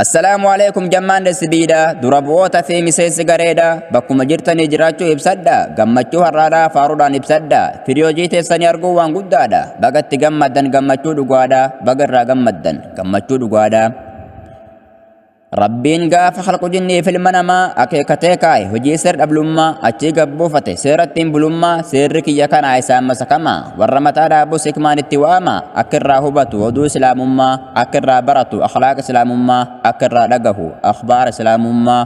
Assalaamu alaikum jammaan SBdha dura bu'oota fi miseensi gareedha bakkuma jirtanii jiraachuu ibsadha gammachuu har'aadhaa faaruudhaan ibsadha firiyoojii teessanii arguu waan guddaadha bagatti gammaddan gammachuu dhugaadha baga irraa gammaddan gammachuu dhugaadha. Rabbiin gaafa halqu jinnii fi ilma namaa akeekatee kaa'e hojii seer dhablummaa achii gabbuufate seera ittiin bulummaa seerri kiyya kanaa isaan masakama warra mataa dhaabus hikmaan itti waama akka irraa hubatu oduu islaamummaa akka irraa baratu akhlaaqa islaamummaa akka irraa dhagahu akhbaara islaamummaa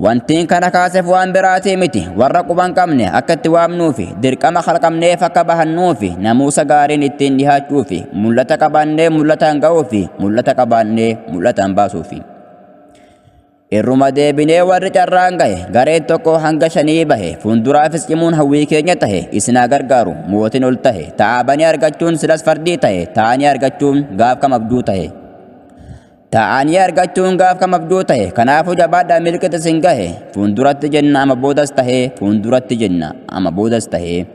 Wantiin kana kaaseef waan biraatii miti warra quban qabne akka itti waamnuufi dirqama kalqamneef akka bahannuufi namuusa gaariin ittiin dhihaachuufi mul'ata qabaannee mul'ataan ga'uufi mul'ata qabaannee mul'ataan baasuufi. Irruma deebinee warri carraan gahe gareen tokko hanga shanii bahe fuulduraafis cimuun hawwii keenya tahe isin haa gargaaru mootiin ol tahe ta'a banii argachuun silas fardii tahe ta'anii argachuun gaaf kam abjuu tahe. Ta'anii argachuun gaaf kam abjuu tahe kanaafuu jabaadhaa milkit isin gahe fuulduratti jenna ama boodas tahe fuulduratti jenna ama boodas tahe.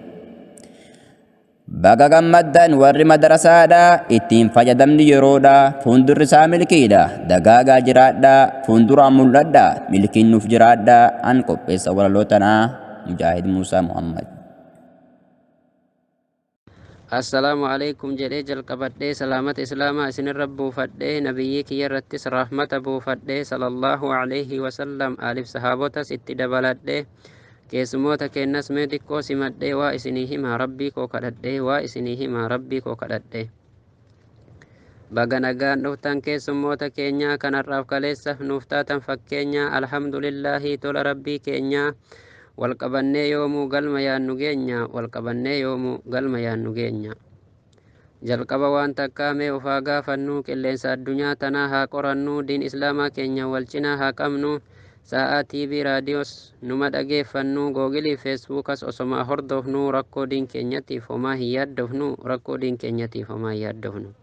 Baga gammaddan warri madarasaadha ittiin fayyadamni yeroodha fuundurri isaa milkiidha dagaagaa jiraadha fuunduraan mul'adha milkiin nuuf jiraadha an qopheessa walaloo tanaa mujaahid muusaa muhammad. Assalaamu alaikum jedhee jalqabadhee salaamata islaamaa isinirra buufadhee nabiyyii kiyyarrattis rahmata buufadhee sallallahu alaihi wasallam aaliif sahaabotas itti dabaladhee Keessumoota keennas mee diqqoo simadhee waa isinii himaa rabbii koo kadhadhee waa isinii himaa rabbii koo kadhadhee. Baga nagaan dhuftan keessummoota keenyaa kanarraaf kaleessa nuuf taatan fakkeenyaa alhamdulillaahii tola rabbii keenyaa walqabannee yoomuu galma yaannu geenya walqabannee yoomuu galma yaannu geenya. Jalqaba waan takkaa mee of haa gaafannuu qilleensa addunyaa tanaa haa qorannuu diin islaamaa keenya wal cinaa haa qabnuu saa'aa tv raadiyoos numa dhageeffannuu googiliif feesbuukas osomaa hordoofnuu rakkoo diin keenyatiif homaa hin yaaddofnuu rakkoo diin keenyatiif homaa hin yaaddofnuu.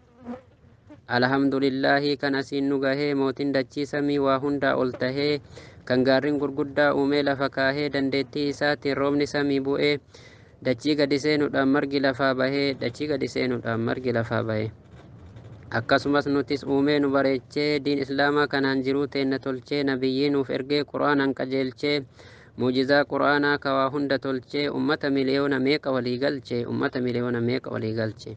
Alhamdulillaahi kan asiin nu gahee mootiin dachii samii waa hundaa ol tahee kan gaarrin gurguddaa uumee lafa kaahee dandeettii isaatiin roobni samii bu'ee dachii gadi seenuudhaan margi lafaa bahee dachii gadi seenuudhaan margi lafaa bahee akkasumas nutis uumee nu bareechee diin islaamaa kanaan jiruu teenna tolchee nabiyyii nuuf ergee qur'aanaan qajeelchee muujizaa qur'aanaa ka waa hunda tolchee ummata miliyoona meeqa walii galche ummata miliyoona meeqa walii galche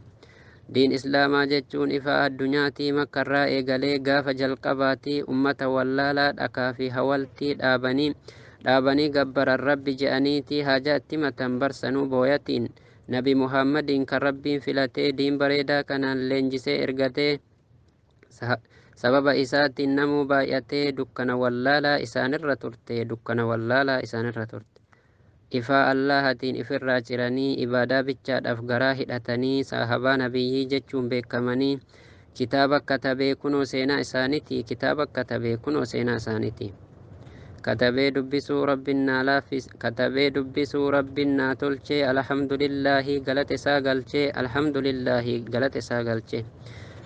Diin Islaamaa jechuun ifaa addunyaatii makkarraa eegalee gaafa jalqabaatii ummata wallaalaa dhakaa fi hawaltii dhaabanii dhaabanii gabbaran Rabbi je'aniitii haajaa itti himatan bar sanuu booyatiin Nabi Muhammadiin kan Rabbiin filatee diin bareedaa kanaan leenjisee ergatee sa- sababa isaatiin namuu baay'atee dukkana wallaalaa isaanirra turte dukkana wallaalaa isaanirra turte. Ifaa Allaahatiin ifirraa ciranii, ibaadaa bichaadhaaf garaa hidhatanii, saahabaa Nabiyyii jechuun beekkamanii, kitaaba katabee kunoo seenaa isaanitii, kitaaba katabee kunoo seenaa isaanitii. Katabee dubbisuu Rabbin naa laaffis, katabee dubbisuu Rabbin naa tolchee, Alhamdulillaahii galata isaa galchee, Alhamdulillaahii galata isaa galchee.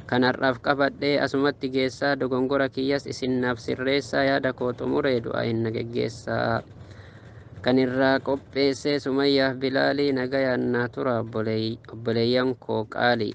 Kan har'aaf qabadhee asumatti geessaa, dogongora kiyyas isin naaf sirreessaa, yaada koo xumuree du'aa'iin na geggeessaa. kan irraa qopheessee sumayyaaf bilaalii nagayaan naa tura obboleey- obboleeyyan koo qaalii